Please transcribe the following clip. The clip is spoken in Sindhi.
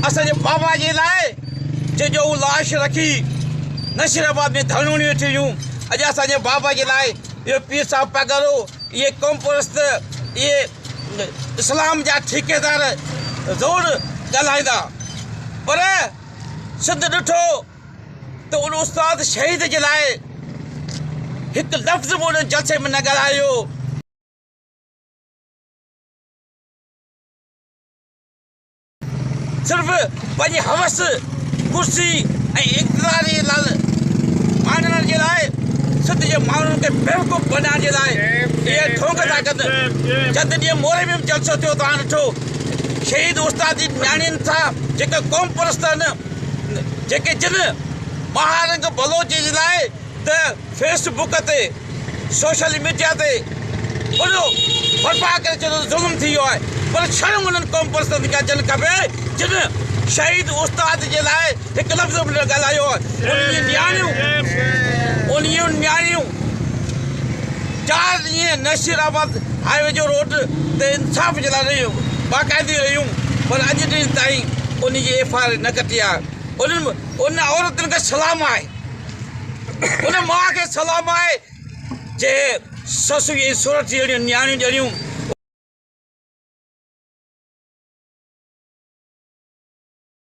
اسان جي بابا جي لاء جنهن جو هو لاش رکي نشير آباد ۾ ڌرڻو ڏيون ٿي ويون اڄ اسان جي بابا جي لاء اهو پير صاحب پگهرو اهي قوم پرست اهي اسلام جا ٺيڪيدار ضرور ڳالهائيندا پر سنڌ ڏٺو ته ان استاد شهيد جي لاء هڪ لفظ به ان جلسي ۾ نه ڳالهايو. صرف پنهنجي حوس، ڪرسي ۽ اقتدار جي لال ماڻڻ جي لاء سنڌ جي ماڻهن کي بيوقوف بنائڻ جي لاء اهي ڍونگ ٿا ڪن. چند ڏينهن موري ۾ به جلسو ٿيو توهان ڏٺو شهيد استاد جي نياڻين سان جيڪي قومپرست آهن، جيڪي جن مهارنگ بلوچ جي لاء ته فيس بڪ تي سوشل ميڊيا تي ڀڙو برپا ڪري ڇڏيو ته ظلم ٿي ويو آهي پر شرم انهن قوم پرستن کي اچڻ کپي جن شهيد استاد جي لاء هڪ لفظ به نه ڳالهايو آهي انهن نياڻيون انهن نياڻيون چار ڏينهن نصير احمد هاء وي جو روڊ تي انصاف جي لاء باقاعدي رهيون پر اڄ ڏينهن تائين ان جي ايف آء آر نه ڪٽي آهي انهن ان عورتن کي سلام آهي ان ماء کي سلام آهي جي سس جي سورٺ جهڙيون نياڻيون ڄڻيون